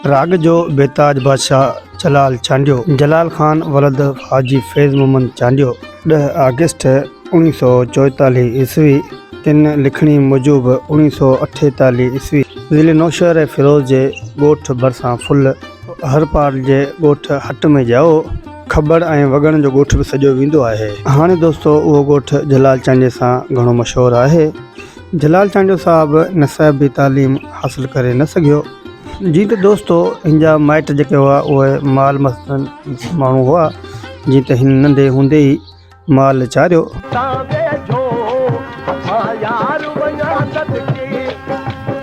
Prague جو بيتاج بادشاهه جلال چانڊيو، جلال خان ولد حاجي فيض محمد چانڊيو، ڏهه آگسٽ اوڻيهه سؤ چوئيتاليهه عيسوي تن لکڻي موجب اوڻيهه سؤ اٺيتاليهه عيسوي ضلعي نوشهر ۽ فيروز جي ڳوٺ ڀرسان ڦل هرپال جي ڳوٺ هٽ ۾ ڄائو، کٻڙ ۽ وڳڻ جو ڳوٺ به سڏيو ويندو آهي. هاڻي دوستو اهو ڳوٺ جلال چانڊيي سان گهڻو مشهور آهي. جلال چانڊيو صاحب نصابي تعليم حاصل ڪري نه سگهيو. جي ته دوستو هن جا مائٽ جيڪي هئا اهي مال مستن ماڻهو هئا جي ته هن ننڍي هوندي ئي مال چاريو. تان ويجهو مان يار وڃان صدقي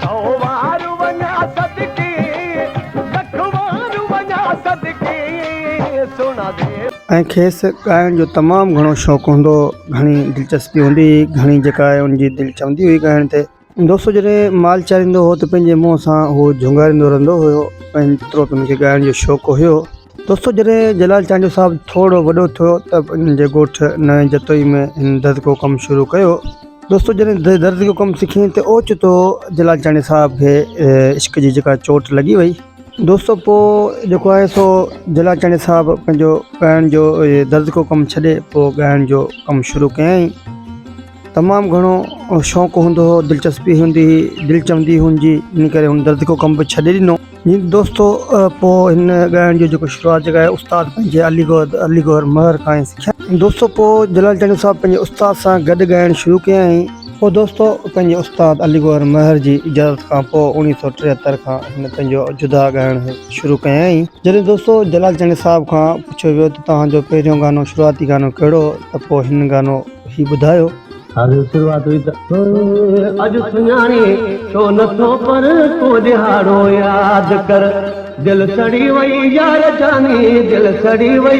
سو وار وڃان صدقي لک وار وڃان صدقي سهڻا وير. ۽ کيس ڳائڻ جو تمام گهڻو شوق هوندو هو گهڻي دلچسپي هوندي هئي گهڻي جيڪا آهي ان جي دل چوندي هئي ڳائڻ تي دوستو جڏهن مال چاريندو هو ته پنهنجي منهن سان هو جهونگاريندو رهندو هيو ۽ جيترو به هن کي ڳائڻ جو شوق هيو دوستو جڏهن جلال چانڊيو صاحب ٿورڙو وڏو ٿيو ته هن جي ڳوٺ نئين جتوئي ۾ هن درزي جو ڪم شروع ڪيو دوستو جڏهن درزي جو ڪم سکين ته اوچتو جلال چانڊيو صاحب کي عشق جي جيڪا چوٽ لڳي وئي دوستو پوء جيڪو آهي سو جلا چاڻي صاحب پنهنجو ڳائڻ جو درد ڪو ڪم ڇڏي پوء ڳائڻ جو ڪم شروع ڪيائين تمام گهڻو شوق هوندو هو دلچسپي هوندي هئي دل چوندي هن جي ان ڪري هن درد ڪو ڪم به ڇڏي ڏنو جي دوستو پوء هن ڳائڻ جو جيڪو شروعات جيڪا آهي استاد پنهنجي علي گوهر علي گوهر مهر کان سکيا دوستو پوء جلا چاڻي صاحب پنهنجي استاد سان گڏ ڳائڻ شروع ڪيائين پوء دوستو پنهنجي استاد علي گوهر مهر جي اجازت کان پوء اوڻيهه سؤ ٽيهتر کان هن پنهنجو جدا ڳائڻ شروع ڪيائين. جڏهن دوستو جلال چانڊيو صاحب کان پڇيو ويو ته توهان جو پهريون گانو شروعاتي گانو ڪهڙو هو ته پوء هن گانو هي ٻڌايو. هاڻي شروعات هئي ته. اڄ سڃاڻي ڇو نه ٿو پر ڪو ڏهاڙو ياد ڪر دل سڙي وئي يار جاني دل سڙي وئي.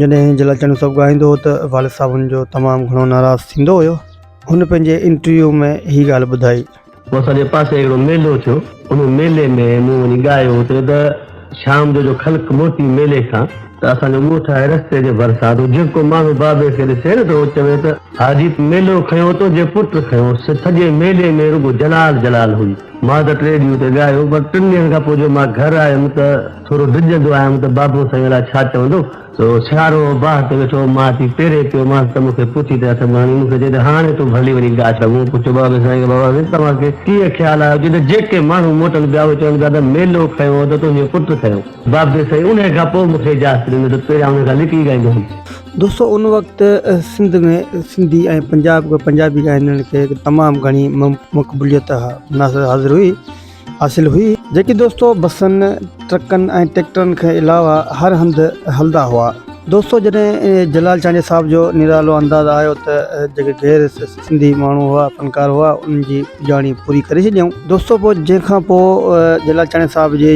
جڏهن هن جي لاء چڱي سڀ ڳائيندو هو ته والد صاحب هن جو تمام گهڻو ناراض ٿيندو هيو. هن پنهنجي انٽرويو ۾ هي ڳالهه ٻڌائي. پوء اسان جي پاسي هڪڙو ميلو ٿيو. ان ميلي ۾ مون وڃي ڳايو اتي ته شام جو جو خلق موٽي ميلي کان ته اسان جو ڳوٺ آهي رستي جي ڀرسان ته جيڪو ماڻهو بابي کي ڏسي نه ته هو چوي ته حاجيت ميلو کنيو تو جي پٽ کنيو سڄي ميلي ۾ رڳو جلال جلال هئي. مان ته ٽي ڏينهن اتي ڳايو پر ٽن ڏينهن کان پوء جو مان گهر آيم ته. ٿورو ڊڄندو آهيم ته بابو سائين الائي ڇا چوندو؟ سيارو باهه تي ويٺو هو، مان اچي پيري پيو مانس ته مون کي پڇي ته اٿم هڻي، مون کي چئي ته هاڻي تون ڀلي وڃي ڊاڍ ڏانهن. مون پڇيو بابي سائين کي بابا سائين توهان کي ڪيئن خيال آيو؟ چئي ته جيڪي ماڻهو موٽن پيا اهي چون پيا ته ميلو کنيو هو ته تنهنجو پٽ کنيو. بابي سائين انهيء کان پوء مون کي اجازت ڏنو ته پهريان انهيء کان لڪي ڳائيندو هوم. دوستو ان وقت سنڌ ۾ سنڌي ۽ پنجاب پنجابي ڳائندڙن کي تمام گهڻي مقبوليت حاصل هئي. حاصل هئي، جيڪي دوستو بسن، ٽرڪن ۽ ٽيڪٽرن کان علاوه هر هنڌ هلندا هئا. دوستو جڏهن جلال چانڊيو صاحب جو نرالو انداز آيو ته جيڪي غير سنڌي ماڻهو هئا، فنڪار هئا، انهن جي پڄاڻي پوري ڪري ڇڏيائون. دوستو پوء جنهن کان پوء جلال چانڊيو صاحب جي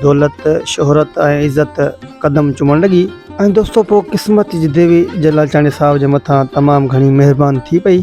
دولت، شهرت ۽ عزت قدم چمڻ لڳي ۽ دوستو پوء قسمت جي ديوي جلال چانڊيو صاحب جي مٿان تمام گهڻي مهربان ٿي پئي.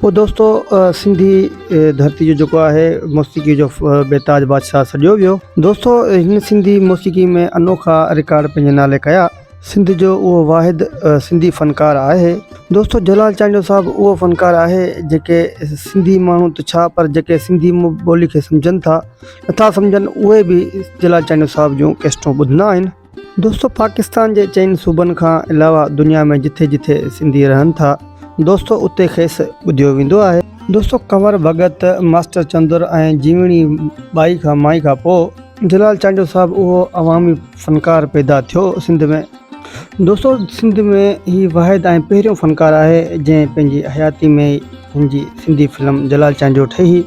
پوء دوستو سنڌي ڌرتي جو جيڪو آهي موسيقي جو بيتاج بادشاهه سڏيو ويو دوستو هن سنڌي موسيقي ۾ انوکا رڪارڊ پنهنجي نالي ڪيا سنڌ جو اهو واحد سنڌي فنڪار آهي دوستو جلال چانڊيو صاحب اهو فنڪار آهي جيڪي سنڌي ماڻهو ته ڇا پر جيڪي سنڌي ٻولي کي سمجهن ٿا نٿا سمجهن اهي به جلال چانڊيو صاحب جون ڪيسٽون ٻڌندا آهن دوستو پاڪستان جي چئن صوبن کان علاوه دنيا ۾ جٿي جٿي سنڌي رهن ٿا دوستو اتي کيس ٻڌيو ويندو آهي. دوستو ڪنور ڀڳت، ماسٽر چندر ۽ جيوڻي ٻائي کان مائي کان پوء. جلال چانڊيو صاحب اهو عوامي فنڪار پيدا ٿيو سنڌ ۾. دوستو سنڌ ۾ هي واحد ۽ پهريون فنڪار آهي جنهن پنهنجي حياتي ۾ ئي هن جي سنڌي فلم جلال چانڊيو ٺهي.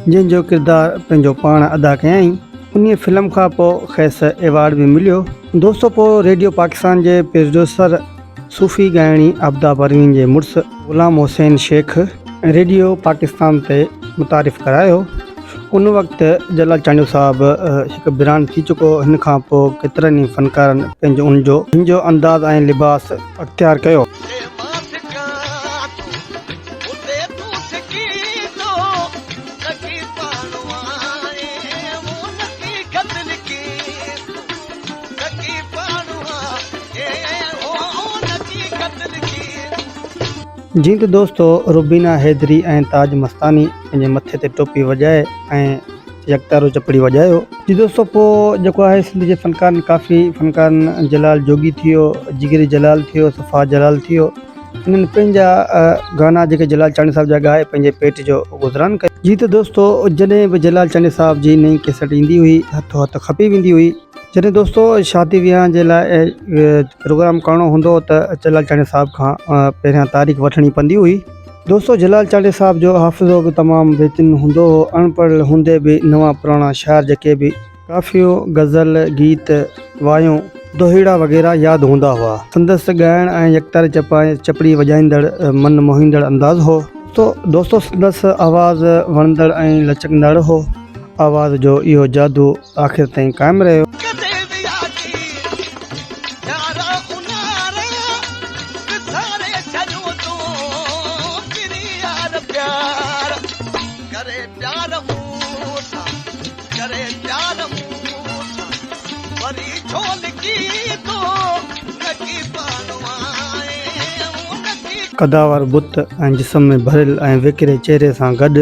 جنهن جو ڪردار پنهنجو پاڻ ادا ڪيائين انهي فلم کان پوء کيس ايوارڊ به مليو دوستو پوء ريڊيو پاڪستان جي پرڊيوسر صوفي ڳائڻي عابده پروين جي مڙس غلام حسين شيخ ريڊيو پاڪستان تي متعارف ڪرايو ان وقت جلال چانڊيو صاحب هڪ برانڊ ٿي چڪو هن کان پوء ڪيترن ئي فنڪارن پنهنجو ان جو انداز ۽ لباس اختيار ڪيو. جيئن ته دوستو روبينا حيدري ۽ تاج مستاني پنهنجي مٿي تي ٽوپي وڄائي ۽ يڪتارو چپڙي وڄايو جي دوستو پوء جيڪو آهي سنڌ جي فنڪارن ڪافي فنڪارن جلال جوڳي ٿي ويو جگري جلال ٿي ويو صفا جلال ٿي ويو انهن پنهنجا گانا جيڪي جلال چانڊيو صاحب جا ڳائي پنهنجي پيٽ جو گذران ڪيو. جي ته دوستو جڏهن به جلال چانڊيو صاحب جي نئين ڪيسٽ ايندي هئي هٿو هٿ کپي ويندي هئي. جڏهن دوستو شادي ويهان جي لاء پروگرام ڪرڻو هوندو هو ته جلال چانڊيو صاحب کان پهريان تاريخ وٺڻي پوندي هئي. دوستو جلال چانڊيو صاحب جو حافظو به تمام بهترين هوندو هو، اڻ پڙهيل هوندي به نوان پراڻا شعر جيڪي به. ڪافيون، غزل، گيت، وايون، دوهيڙا وغيره ياد هوندا هئا. سندس ڳائڻ ۽ يڪتاري چپائي چپڙي وڄائيندڙ من موهيندڙ انداز هو. دوستو سندس آواز وڻندڙ ۽ لچڪندڙ هو. آواز جو اهو جادو آخر تائين قائم رهيو. ڪري پيار مون سان وري ڇو لڪي ٿو لڪي پانو آهي قداور بت ۽ جسم ۾ ڀريل ۽ ويڪري چهري سان گڏ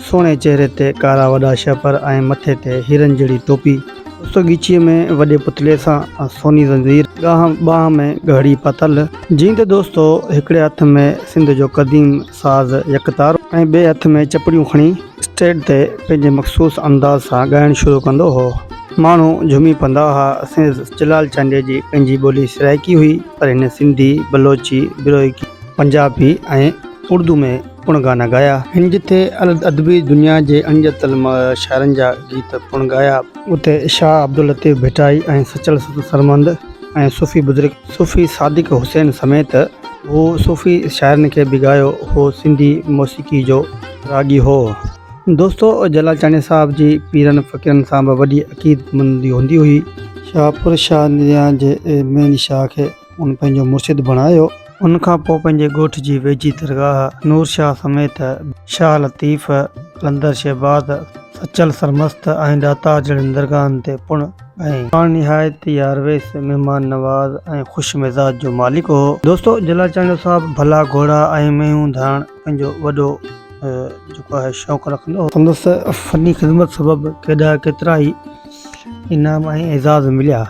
سهڻي چهري تي ڪارا وڏا شهپر ۽ مٿي تي هيرن جهڙي ٽوپي، اوچتو ڳچيء ۾ وڏي پتلي سان سوني زنجير، ڳانهن ٻانهن ۾ ڳهڙي پتل، جيند دوستو هڪڙي هٿ ۾ سنڌ جو قديم ساز يڪ تارو ۽ ٻئي هٿ ۾ چپڙيون کڻي اسٽيڊ تي پنهنجي مخصوص انداز سان ڳائڻ شروع ڪندو هو. ماڻهو جهومي پوندا ها. سينز جلال چانڊيي جي پنهنجي ٻولي سرائيڪي هئي پر هن سنڌي، بلوچي، بروهيڪي، پنجابي ۽ اردو ۾ پڻ گانا ڳايا. هن جتي ادبي دنيا جي اڻڄاتل شاعرن جا گيت پڻ ڳايا. اتي شاهه عبداللطيف ڀٽائي ۽ سچل سرمند ۽ صوفي بزرگ صوفي صادق حسين سميت هو صوفي شاعرن کي به ڳايو هو سنڌي موسيقي جو راڳي هو. دوستو جلال چانڊيا صاحب جي پيرن فقيرن سان به وڏي عقيدمندي هوندي هئي. شاهپور شاهه نيان جي ميين شاهه کي هن پنهنجو مرشد بڻايو. ان کان پوء پنهنجي ڳوٺ جي ويجهي درگاهه نور شاهه سميت شاهه لطيف، قلندر شهباز، سچل سرمست ۽ ڏاتار جهڙين درگاهن تي پڻ. پاڻ نهايت ئي يارويس، مهمان نواز ۽ خوش مزاج جو مالڪ هو. دوستو جلال چانڊيو صاحب ڀلا گهوڙا ۽ مينهون ڌائڻ پنهنجو وڏو جيڪو آهي شوق رکندو هو. سندس فني خدمت سبب ڪيڏا ڪيترا ئي انعام ۽ اعزاز مليا.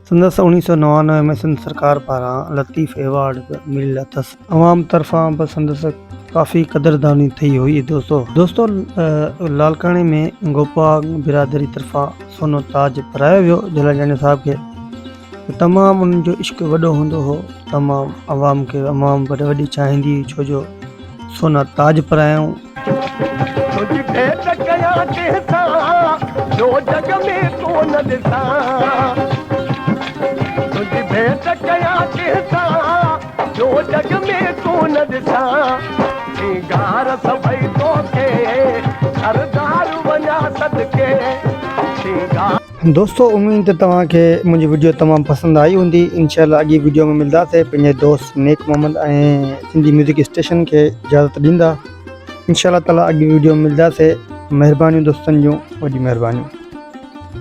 سندس اوڻيهه سؤ نوانوي ۾ سنڌ سرڪار پاران لطيف ايوارڊ به مليل اٿس. عوام طرفان به سندس ڪافي قدرداني ٿئي هئي دوستو دوستو لاڙڪاڻي ۾ گوپا برادري طرفان سونو تاج پرايو ويو جلاجاڻي صاحب کي تمام انهن جو عشق وڏو هوندو هو تمام عوام کي عوام وڏي وڏي چاهيندي هئي ڇو جو سونا تاج پرايائون تنهنجي ڀيٽ ڪيا ڪنهن سان جو جڳ ۾ ڪو نه ڏسان تنهنجي ڀيٽ ڪيا ڪنهن سان ٻيو جڳ ۾ ڪونه ڏسان سينگار سڀئي توکي سردار وڃا صدقي سينگار. دوستو اميد ته توهان کي منهنجي وڊيو تمام پسند آئي هوندي انشاء الله اڳي وڊيو ۾ ملداسي پنهنجي دوست نيڪ محمد ۽ سنڌي ميوزڪ اسٽيشن کي اجازت ڏيندا انشاء الله تعالي اڳي وڊيو ۾ ملداسي مهربانيون دوستن جون وڏي مهربانيون.